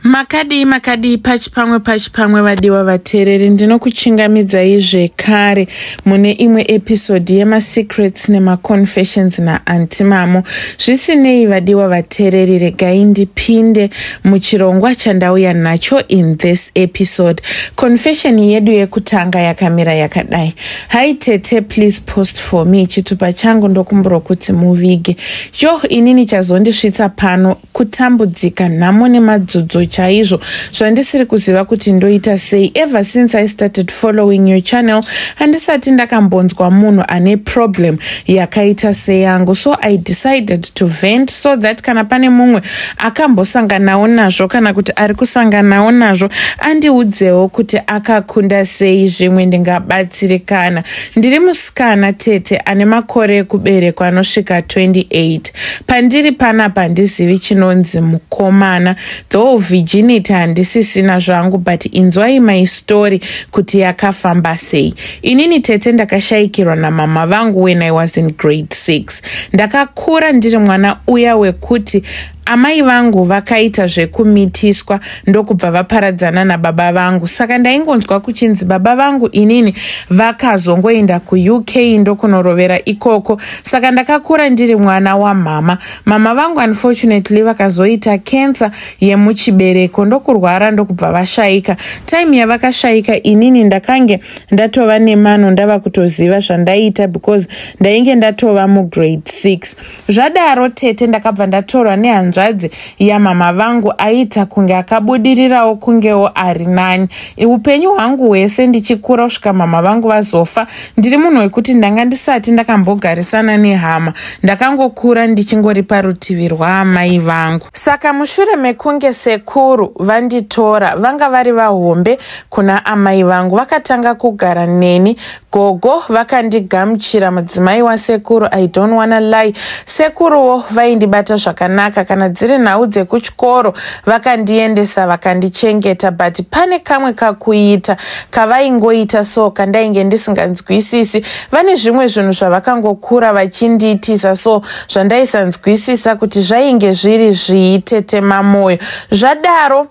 makadii makadii pachi pamwe pachi pamwe vadiwa vateereri ndinokuchingamidzai zvekare mune imwe episodi yemasecrets nemaconfessions naanti mamo zvisinei vadiwa vateereri regai ndipinde muchirongwa chandauya nacho in this episode confession yedu yekutanga yakamira yakadai hi tete please post for me chitupa changu ndokumbura kuti muvige yoh inini chazondisvitsa pano kutambudzika nhamo nemadzodzo chaizvo zvandisiri kuziva kuti ndoita sei ever since i started following your channel handisati ndakambonzwa munhu ane problem yakaita seyangu so i decided to vent so that kana pane mumwe akambosanganawo nazvo kana kuti ari kusanganawo nazvo andiudzewo kuti akakunda sei zvimwe ndingabatsirikana Ndiri musikana tete ane makore ekuberekwa anosvika 28. Pandiri panapa handizivi chinonzi mukomana. Though virginity handisisina zvangu but inzwai my story kuti yakafamba sei. Inini tete ndakashayikirwa namama vangu when I was in grade 6. Ndakakura ndiri mwana uya wekuti Amai vangu vakaita zvekumitiswa ndokubva vaparadzana nababa vangu saka ndaingonzwa kuchinzi baba vangu inini vakazongoenda kuuk ndokunorovera ikoko saka ndakakura ndiri mwana wamhama mama vangu unfortunately vakazoita kensa yemuchibereko ndokurwara ndokubva vashaika time yavakashaika inini ndakange ndatova nemano ndava kutoziva zvandaiita because ndainge ndatova mugrade 6 zvadaro tete ndakabva ndatorwa nehanzvadzi yamama vangu aiita kunge akabudirirawo kungewo ari nani upenyu hwangu hwese ndichikura kusvika mama vangu vazofa ndiri munhu wekuti ndanga ndisati ndakambogarisana nehama ndakangokura ndichingori parutivi rwaamai vangu saka mushure mekunge sekuru vanditora vanga vari vahombe kuna amai vangu vakatanga kugara neni gogo vakandigamuchira mudzimai wasekuru i don't wanna lie sekuruwo vaindibata zvakanaka kana dziri nhau dzekuchikoro vakandiendesa vakandichengeta but pane kamwe kakuita kavaingoita so kandainge ndisinganzwisisi vane zvimwe zvinhu zvavakangokura vachindiitisa so zvandaisanzwisisa kuti zvainge zviri zviitete mamwoyo zvadaro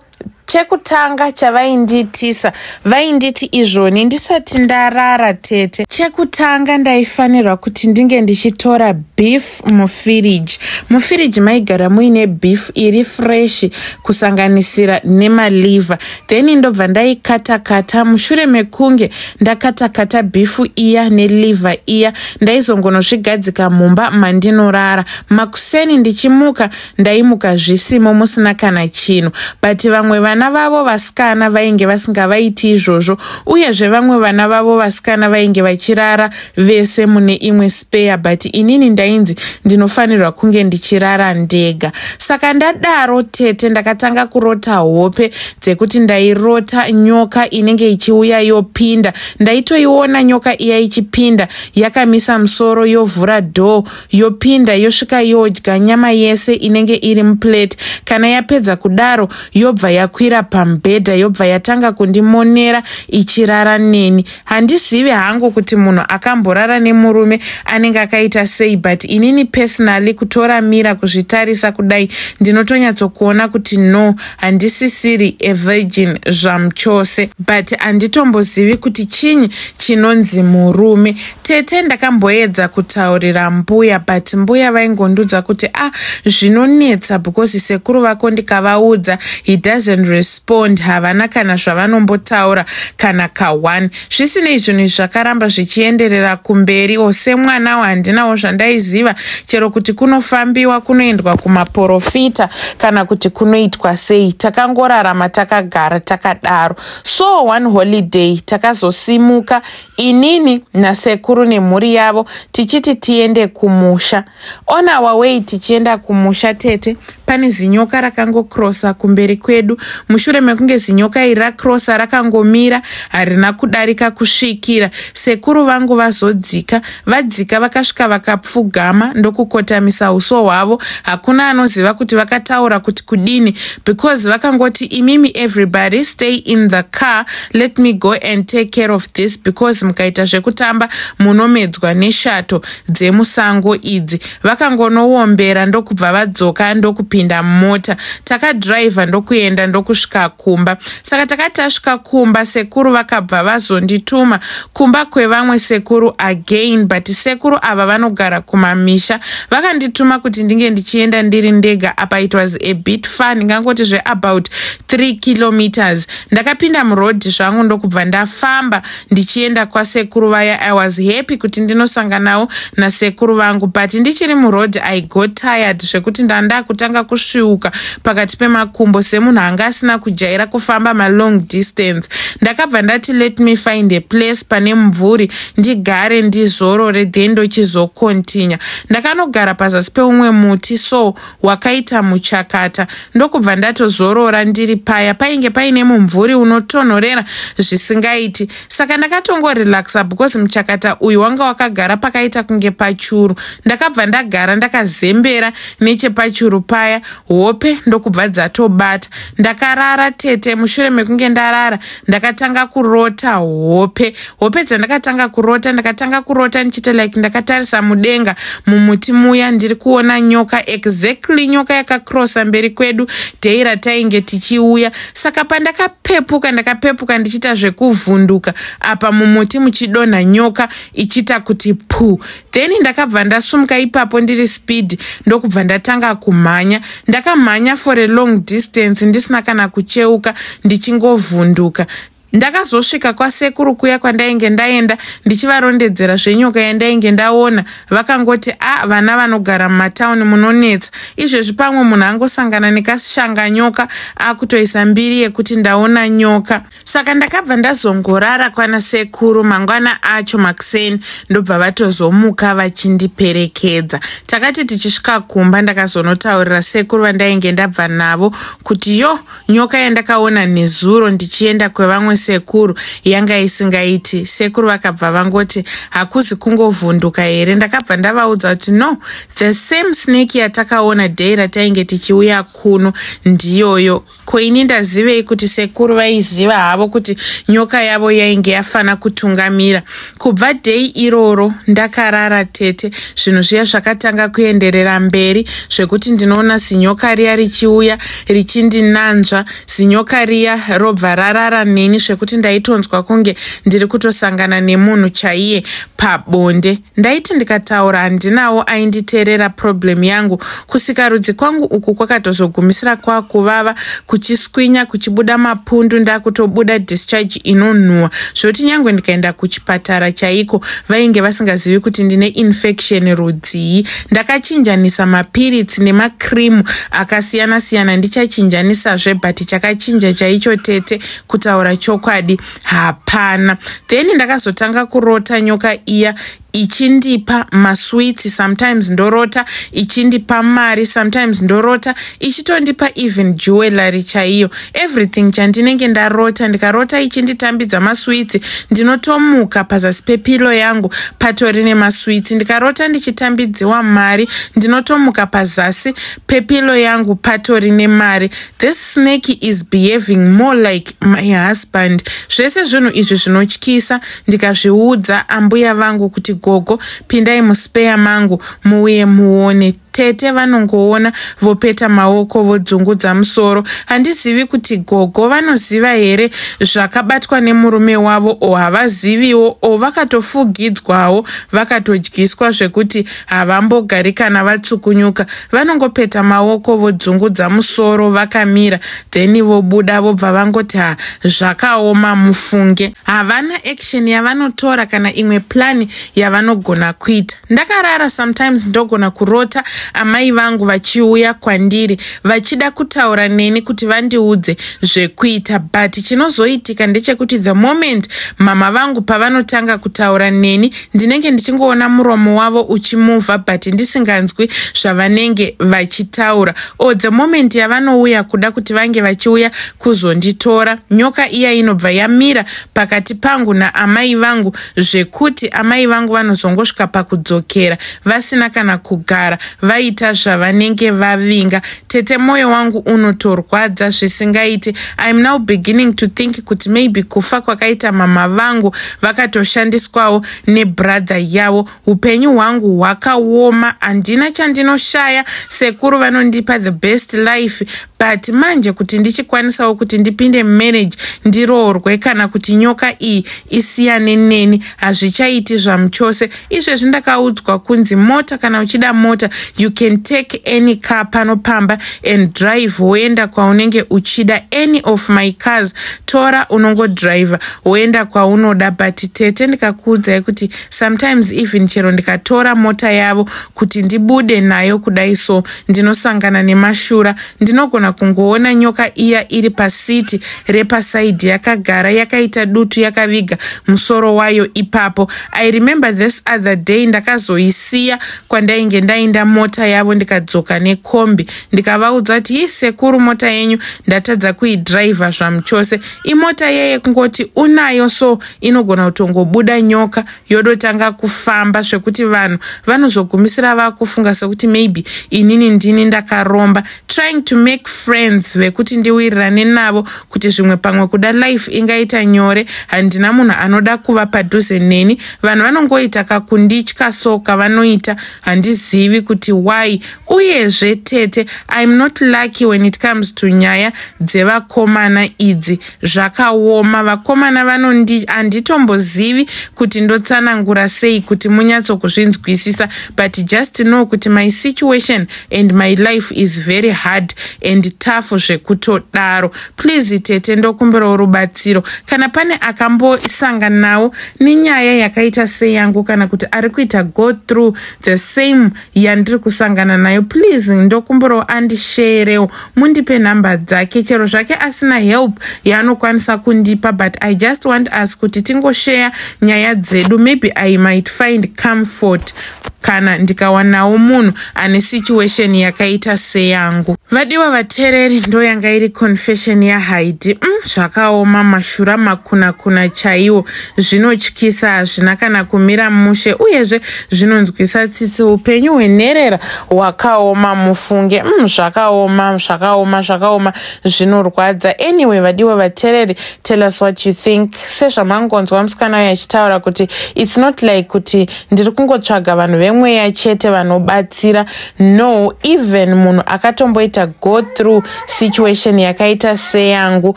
chekutanga chavaindiitisa vainditi izvoni ndisati ndarara tete chekutanga ndaifanirwa kuti ndinge ndichitora beef mufiriji mufiriji maigara muine beef iri freshi kusanganisira nemaliver then ndobva ndaikatakata mushure mekunge ndakatakata bifu iya neliver iya ndaizongonozvigadzika mumba mandinorara makuseni ndichimuka ndaimuka zvisimo musina kana chinhu but vamwe vana vavo vasikana vainge vasingavaiti izvozvo uyezve vamwe vana vavo vasikana vainge vachirara vese mune imwe spare but inini ndainzi ndinofanirwa kunge ndichirara ndega saka ndadaro tete ndakatanga kurota hope dzekuti ndairota nyoka inenge ichiuya yopinda ndaitoiona nyoka iya ichipinda yakamisa musoro yovhura door yopinda yosvika yodya nyama yese inenge iri muplate kana yapedza kudaro yobva yakwira pamubhedha yobva yatanga kundimonera ichirara neni handizivi hangu kuti munhu akamborara nemurume anenge akaita sei but inini personally kutora mira kuzvitarisa kudai ndinotonyatsokuona kuti no handisisiri evirgin zvamuchose but handitombozivi kuti chinyi chinonzi murume Tete ndakamboedza kutaurira mbuya but mbuya vaingondudza kuti ah zvinonetsa because sekuru vako ndikavaudza he doesn't respond havana kana zvavanombotaura kana kaone zvisinei zvinhu izvi zvakaramba zvichienderera kumberi o semwanawo handinawo zvandaiziva chero kuti kunofambiwa kunoendwa kumaporofita kana kuti kunoitwa sei takangorarama takagara takadaro so one holiday takazosimuka inini nasekuru nemhuri yavo tichiti tiende kumusha on our way tichienda kumusha tete pane zinyoka rakangokrosa kumberi kwedu mushure mekunge zinyoka iri rakrosa rakangomira harina kudarika kusvikira sekuru vangu vazodzika Vadzika vakasvika vakapfugama ndokukotamisa uso hwavo. Hakuna anoziva kuti vakataura kuti kudini because vakangoti imimi everybody stay in the car let me go and take care of this because mukaita zvekutamba munomedzwa neshato dzemusango idzi. Vakangonoombera ndokubva vadzoka ndokupinda mumota. Takadriver ndokuenda ndokusvika kumba. Saka takati tasvika kumba sekuru vakabva vazondituma kumba kwevamwe sekuru again but sekuru ava vanogara kumamisha vakandituma kuti ndinge ndichienda ndiri ndega apa it was a bit far ndingangoti zveabout 3 kilometers ndakapinda muroad zvangu ndokubva ndafamba ndichienda kwasekuru vaya i was happy kuti ndinosanganawo nasekuru vangu but ndichiri muroad i got tired zvekuti ndandakutanga kusviuka pakati pemakumbo semunhu anga asina kujaira kufamba malong distance ndakabva ndati let me find a place pane mumvuri ndigare ndizorore then ndochizokontinya ndakanogara pazasi peumwe muti so wakaita muchakata ndokubva ndatozorora ndiri paya painge paine mumvuri unotonhorera zvisingaiti saka ndakatongorelaxa because muchakata uyu wanga wakagara pakaita kunge pachuru ndakabva ndagara ndakazembera nechepachuru paya hope ndokubva dzatobata ndakarara tete mushure mekunge ndarara ndakatanga kurota hope hope dzandakatanga kurota ndakatanga kurota ndichiita like ndakatarisa mudenga mumuti muya ndiri kuona nyoka exactly nyoka yakakrosa mberi kwedu dhei ratainge tichiuya saka pandakapepuka ndakapepuka ndichiita zvekuvhunduka apa mumuti muchidonha nyoka ichiita kuti puu then ndakabva ndasumuka ipapo ndiri speed ndokubva ndatanga kumhanya ndakamhanya for a long distance ndisina kana kucheuka ndichingovhunduka ndakazosvika kwasekuru kuya kwandainge ndaenda ndichivarondedzera zvenyoka yandainge ndaona vakangoti a ah, vana vanogara mumatauni munonetsa izvezvi pamwe munhu angosangana nekasishanga nyoka akutoisa mbiri yekuti ndaona nyoka saka ndakabva ndazongorara kwana sekuru mangwana acho makuseni ndobva vatozomuka vachindiperekedza takati tichisvika kumba ndakazonotaurira sekuru vandainge ndabva navo kuti yo nyoka yandakaona nezuro ndichienda kwevamwe sekuru yanga isingaiti sekuru vakabva vangoti hakuzi kungovhunduka here ndakabva ndavaudza kuti no the same snake yatakaona day ratainge tichiuya kuno ndiyoyo ko ini ndazivei kuti sekuru vaiziva havo kuti nyoka yavo yainge yafana kutungamira kubva dei iroro ndakarara tete zvinhu zviya zvakatanga kuenderera mberi zvekuti ndinoona zinyoka riya richiuya richindinanzva zinyoka riya robva rarara neni zvekuti ndaitonzwa kunge ndiri kutosangana nemunhu chaiye pabonde ndaiti ndikataura handinawo ainditeerera problem yangu kusika rudzi kwangu uku kwakatozogumisira kwakuvava kuchiswinya kuchibuda mapundu ndakutobuda discharge inonhuwa zvoti nyange ndikaenda kuchipatara chaiko vainge vasingazivi kuti ndine infection rudzii ndakachinjanisa mapiritsi nemacream akasiyana siyana ndichachinjanisazve but chakachinja chaicho tete kutaura chokwadi hapana then ndakazotanga kurota nyoka iya ichindipa maswiti sometimes ndorota ichindipa mari sometimes ndorota ichitondipa even jewellery chaiyo everything chandinenge ndarota ndikarota ichinditambidza maswiti ndinotomuka pazasi pepilo yangu patori nemaswiti ndikarota ndichitambidziwa mari ndinotomuka pazasi pepilo yangu patori nemari this snake is behaving more like my husband zvese zvinhu izvi zvinotyisa ndikazviudza ambuya vangu kuti gogo pindai muspeya mangu muuye muone tete vanongoona vopeta maoko vodzungudza musoro handizivi kuti gogo vanoziva here zvakabatwa nemurume wavo o havaziviwo o vakatofugidzwawo vakatodyiswa zvekuti havambogari kana vatsukunyuka vanongopeta maoko vodzungudza musoro vakamira then vobuda vobva vangoti ha zvakaoma mufunge havana action yavanotora kana imwe plani yavanogona kuita ndakarara sometimes ndogona kurota amai vangu vachiuya kwandiri vachida kutaura neni kuti vandiudze zvekuita but chinozoitika ndechekuti the moment mama vangu pavanotanga kutaura neni ndinenge ndichingoona muromo wavo uchimuvha but ndisinganzwi zvavanenge vachitaura o oh, the moment yavanouya kuda kuti vange vachiuya kuzonditora nyoka iya inobva yamira pakati pangu naamai vangu zvekuti amai vangu vanozongosvika pakudzokera vasina kana kugara vaita zvavanenge vavinga tete moyo wangu unotorwadza zvisingaiti iam now beginning to think kuti maybe kufa kwakaita mama vangu vakatoshandiswawo nebrother yavo upenyu hwangu hwakaoma handina chandinoshaya sekuru vanondipa the best life but manje kuti ndichikwanisawo kuti ndipinde marriage ndiroorwe kana kuti nyoka iyi isiyane neni hazvichaiti zvamuchose izvezvi ndakaudzwa kunzi mota kana uchida mota you can take any car pano pamba and drive woenda kwaunenge uchida any of my cars tora unongodriver woenda kwaunoda but tete ndikakuudzai kuti sometimes even chero ndikatora mota yavo kuti ndibude nayo kudai so ndinosangana nemashura ndinogona kungoona nyoka iya iri pasiti repasaidhi yakagara yakaita dutu yakaviga musoro wayo ipapo i remember this other day ndakazoisiya kwandainge ndainda mota yavo ndikadzoka nekombi ndikavaudza kuti hii sekuru mota yenyu ndatadza kuidrivha zvamuchose imota yeye kungoti unayo so inogona kutongobuda nyoka yodotanga kufamba zvekuti vanhu vanozogumisira vakufunga sekuti maybe inini ndini ndakaromba trying to make friends vekuti ndiwirirane navo kuti zvimwe pamwe kuda life ingaita nyore handina munhu anoda kuva padhuze neni vanhu vanongoita kakunditya so kavanoita handizivi kuti why uyezve tete im not lucky when it comes to nyaya dzevakomana idzi zvakaoma vakomana vanondi handitombozivi kuti ndotsanangura sei kuti munyatsokuzvinzwisisa but just know kuti my situation and my life is very hard and tough zvekutodaro please tete ndokumbirawo rubatsiro kana pane akambosanganawo nenyaya yakaita seyangu kana kuti ari kuita go through the same yandiri kusangana nayo please ndokumburowo andisheerewo mundipe nhamba dzake chero zvake asina help yaanokwanisa kundipa but i just want us kuti tingosheya nyaya dzedu maybe i might find comfort kana ndikawanawo munhu ane situation yakaita seyangu vadiwa vatereri ndo yanga iri confession yahaidi mm, zvakaoma mashura makunakuna chaiwo zvinotyisa hazvina kana kumira mushe uyezve zvinonzwisa tsitsi upenyu hwenherera hwakaoma mufunge mm, zvakaoma zvakaoma zvakaoma zvinorwadza anyway vadiwa vatereri tell us what you think sezvamangonzwa musikana uyo achitaura kuti its not like kuti ndiri kungotsvaga vanhu vemweya chete vanobatsira no even munhu akatomboita go through situation yakaita seyangu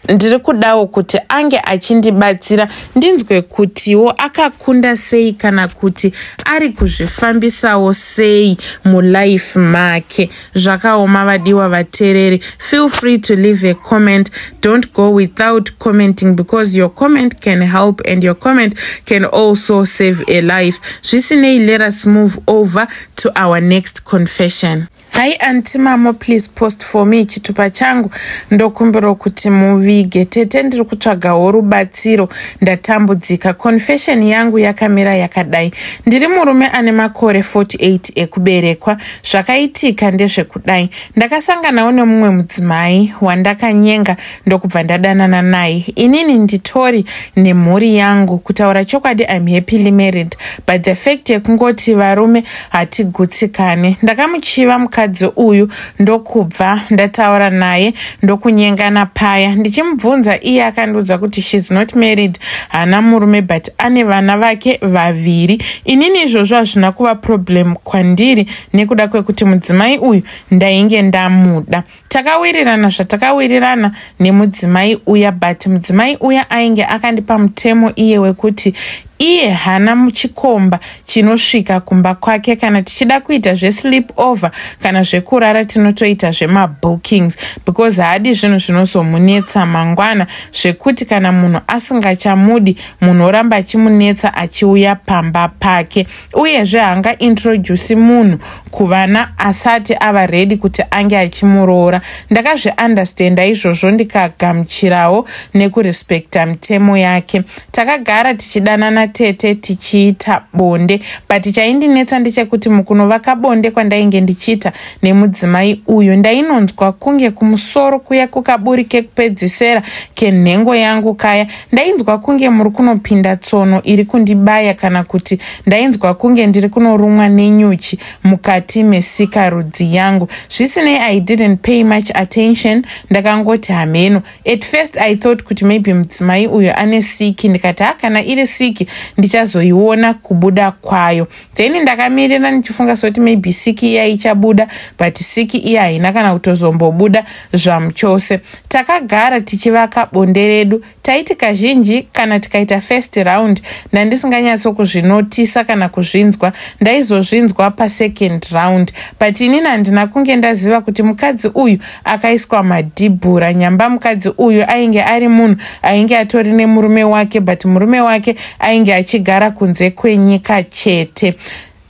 ndiri kudawo kuti ange achindibatsira ndinzwe kutiwo akakunda sei kana kuti ari kuzvifambisawo sei mulife make zvakaoma vadiwa vatereri feel free to leave a comment don't go without commenting because your comment can help and your comment can also save a life zvisinei let us move over to our next confession Hi anti mamo please post for me chitupa changu ndokumbirwa kuti muvige tete ndiri kutsvagawo rubatsiro ndatambudzika confession yangu yakamira yakadai ndiri murume ane makore 48 ekuberekwa zvakaitika ndezvekudai ndakasanganawo nemumwe mudzimai wandakanyenga ndokubva ndadanana naye inini nditori nemhuri yangu kutaura chokwadi im happily married but the fact yekungoti varume hatigutsikane ndakamuchiva mukadzi uyu ndokubva ndataura naye ndokunyengana paya ndichimubvunza iye akandiudza kuti shes not married haana murume but ane vana vake vaviri inini izvozvo hazvina kuva problem kwandiri nekuda kwekuti mudzimai uyu ndainge ndamuda takawirirana zvatakawirirana nemudzimai uya but mudzimai uya ainge akandipa mutemo iye wekuti iye hana muchikomba chinosvika kumba kwake kana tichida kuita zvesleep over kana zvekurara tinotoita zvemabookings because haadi zvinhu zvinozomunetsa mangwana zvekuti kana munhu asingachamudi munhu oramba achimunetsa achiuya pamba pake uyezve haangaintroduci munhu kuvana asati ava redi kuti ange achimuroora ndakazviunderstanda izvozvo ndikagamuchirawo nekurespecta mitemo yake takagara tichidanana tete tichiita bonde but chaindinetsa ndechekuti mukunovaka bonde kwandainge ndichiita nemudzimai uyu ndainonzwa kunge kumusoro kuya kukaburi kekupedzisera kenhengo yangu kaya ndainzwa kunge muri kunopinda tsono iri kundibaya kana kuti ndainzwa kunge ndiri kunorumwa nenyuchi mukati mesika rudzi yangu zvisinei i didn't pay much attention ndakangoti hameno at first i thought kuti maybe mudzimai uyo ane siki ndikati ha kana iri siki ndichazoiona kubuda kwayo then ndakamirira ndichifunga soti maybe siki iya ichabuda but siki iya haina kana kutozombobuda zvamuchose takagara tichivaka bonde redu taiti kazhinji kana tikaita first round ndandisinganyatsokuzvinotisa kana kuzvinzwa ndaizozvinzwa pasecond round but inini handina kunge ndaziva kuti mukadzi uyu akaiswa madhibhura nyamba mukadzi uyu ainge ari munhu ainge atori nemurume wake but murume wake ainge achigara kunze kwenyika chete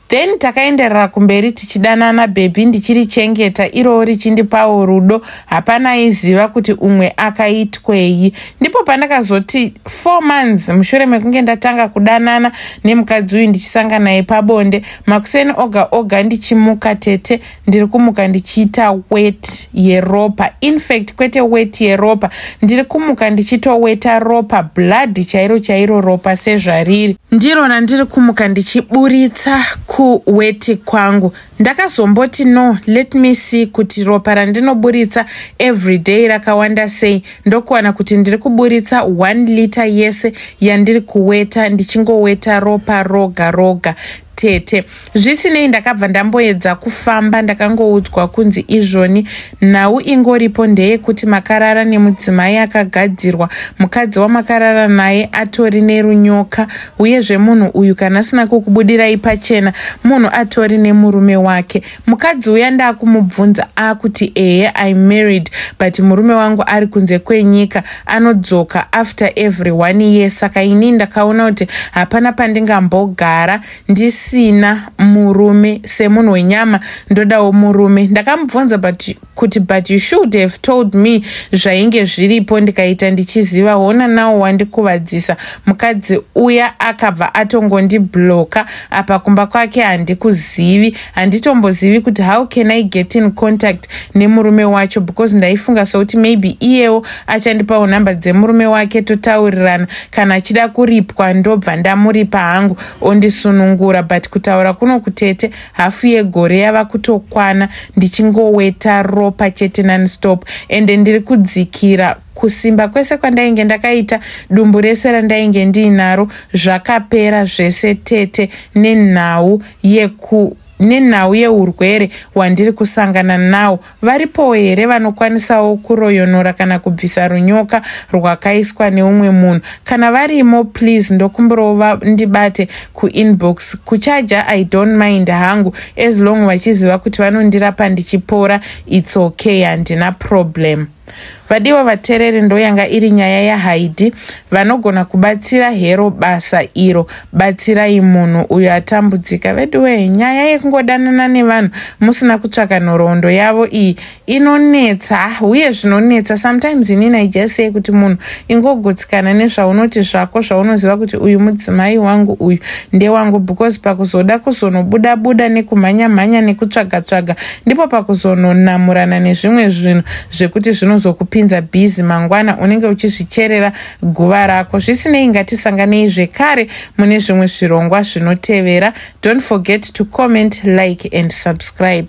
then takaenderera kumberi tichidanana bhebhi ndichirichengeta irowo richindipawo rudo hapana aiziva kuti umwe akaitwei ndipo pandakazoti four months mushure mekunge ndatanga kudanana nemukadzi uyu ndichisanga naye pabonde makuseni oga oga ndichimuka tete ndiri kumuka ndichiita wet yeropa infact kwete wet yeropa ndiri kumuka ndichitoweta ropa bladhi chairo chairo ropa sezvariri ndiro randiri kumuka ndichiburitsa kuweti kwangu ndakazomboti no let me see kuti ropa randinoburitsa every day rakawanda sei ndokuwana kuti ndiri kuburitsa one liter yese yandiri kuweta ndichingoweta ropa roga roga tete zvisinei ndakabva ndamboedza kufamba ndakangoudzwa kunzi izvoni nhau ingoripo ndeyekuti makarara nemudzimai akagadzirwa mukadzi wamakarara naye atori nerunyoka uyezve munhu uyu kana asina kukubudirai pachena munhu atori nemurume wake mukadzi uya ndaakumubvunza akuti ehe i married but murume wangu ari kunze kwenyika anodzoka after every one year saka ini ndakaona kuti hapana pandingambogara ndisina murume semunhu wenyama ndodawo murume ndakamubvunza but kuti but you should have told me zvainge zviripo ndikaita ndichiziva hona nawo wandikuvadzisa mukadzi uya akabva atongondibloka apa kumba kwake handikuzivi handitombozivi kuti how can i get in contact nemurume wacho because ndaifunga sokuti maybe iyewo achandipawo nhamba dzemurume wake totaurirana kana achida kuripwa ndobva ndamuripa hangu ondisunungura but kutaura kuno kutete hafu yegore yava kutokwana ndichingoweta ropa chete nonstop ende ndiri kudzikira kusimba kwese kwandainge ndakaita dumbu rese randainge ndiinaro zvakapera zvese tete nenhau yeku nenhau yeurwere hwandiri kusangana nawo Varipowo here vanokwanisawo kuroyonora kana kubvisa runyoka rwakaiswa neumwe munhu? Kana varimo please ndokumbirawo vandibate kuinbox. Kuchaja I don't mind hangu as long vachiziva kuti vanondirapa ndichipora it's okay handina problem. Vadiwa vatereri ndoyanga iri nyaya yaHaidi vanogona kubatsira hero basa iro batsirai munhu uyo atambudzika veduwee nyaya yekungodanana nevanhu musina kutsvaka nhoroondo yavo iyi inonetsa ah, uye zvinonetsa sometimes inini aijasei kuti munhu ingogutsikana nezvaunoti zvako zvaunoziva kuti uyu mudzimai wangu uyu ndewangu because pakuzoda kuzonobuda buda nekumhanya mhanya nekutsvaga tsvaga ndipo pakuzononamurana nezvimwe zvinhu zvekuti zvinozokupinza bhizi mangwana unenge uchizvicherera guva rako zvisinei ngatisanganei zvekare mune zvimwe zvirongwa zvinotevera don't forget to comment like and subscribe